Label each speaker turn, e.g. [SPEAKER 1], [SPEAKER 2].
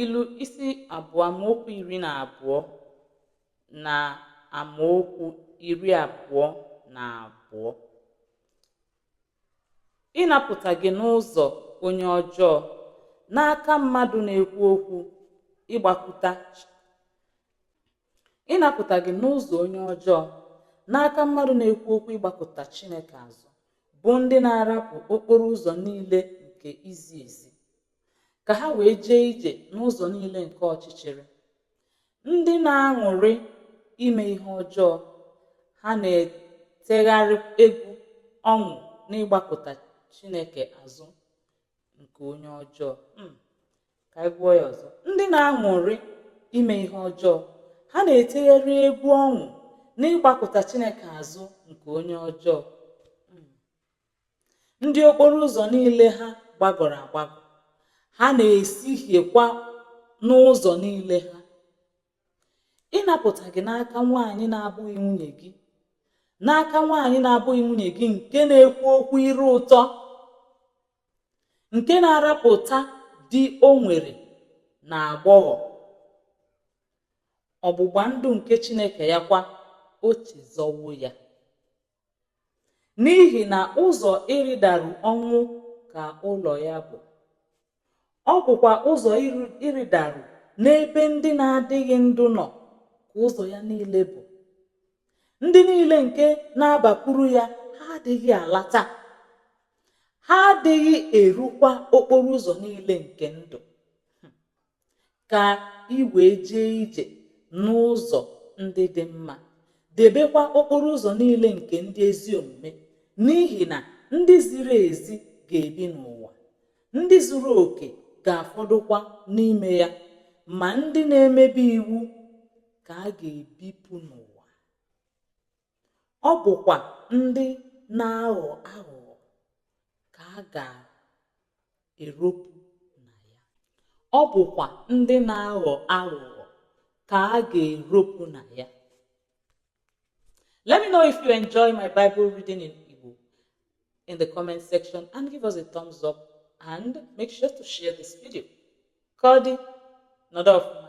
[SPEAKER 1] ilu isi abụọ amaokwu iri na abụọ na amaokwu iri abụọ na abụọ ịnapụta gị n'ụzọ onye ọjọọ n'aka mmadụ na-ekwu okwu ịgbakụta ịnapụta gị n'ụzọ onye ọjọọ n'aka mmadụ na-ekwu okwu ịgbakụta Chineke azụ bụ ndị na-arapụ okporo ụzọ niile nke izi ezi ka ha wee jee ije n'ụzọ niile nke ọchịchịrị ndị na-aṅụrị ime ihe ọjọọ ha na-etegharị egwu ọṅụ n'ịgbakụta chineke azụ nke onye ọjọọ hmm. ka anyị gụọ ya ọzọ ndị na-aṅụrị ime ihe ọjọọ ha na-etegharị egwu ọṅụ n'ịgbakụta chineke azụ nke onye ọjọọ ndị okporo ụzọ niile ha gbagọrọ agbagọ ha na-esihiekwa n'ụzọ niile ha ịnapụta gị n'aka nwaanyị na-abụghị nwunye gị n'aka nwaanyị na-abụghị nwunye gị nke na-ekwu okwu ire ụtọ nke na-arapụta di o nwere na agbọghọ ọgbụgba ndụ nke chineke ya kwa o chezọwo ya n'ihi na ụzọ ịrịdaru ọnwụ ka ụlọ ya bụ ọ bụkwa ụzọ ịrịdaru n'ebe ndị na-adịghị ndụ nọ ka ụzọ ya niile bụ ndị niile nke na-abakwuru ya ha adịghị alata ha adịghị erukwa okporo ụzọ niile nke ndụ ka ị wee jee ije n'ụzọ ndị dị mma debekwa okporo ụzọ niile nke ndị ezi omume n'ihi na ndị ziri ezi ga-ebi n'ụwa ndị zuru oke ga-afọdụkwa n'ime ya ma ndị na-emebi iwu ka a ga-ebipụ n'ụwa ọ bụkwa ndị na-aghọ aghụghọ ka a ga-eropụ na ya ọ bụkwa ndị na-aghọ aghụghọ ka a ga-eropụ na ya let me know if you enjoy my bible reading in igbo in the comment section and give us a thumbs up and make sure to share this video ka ọ dị nọdụ ọfụma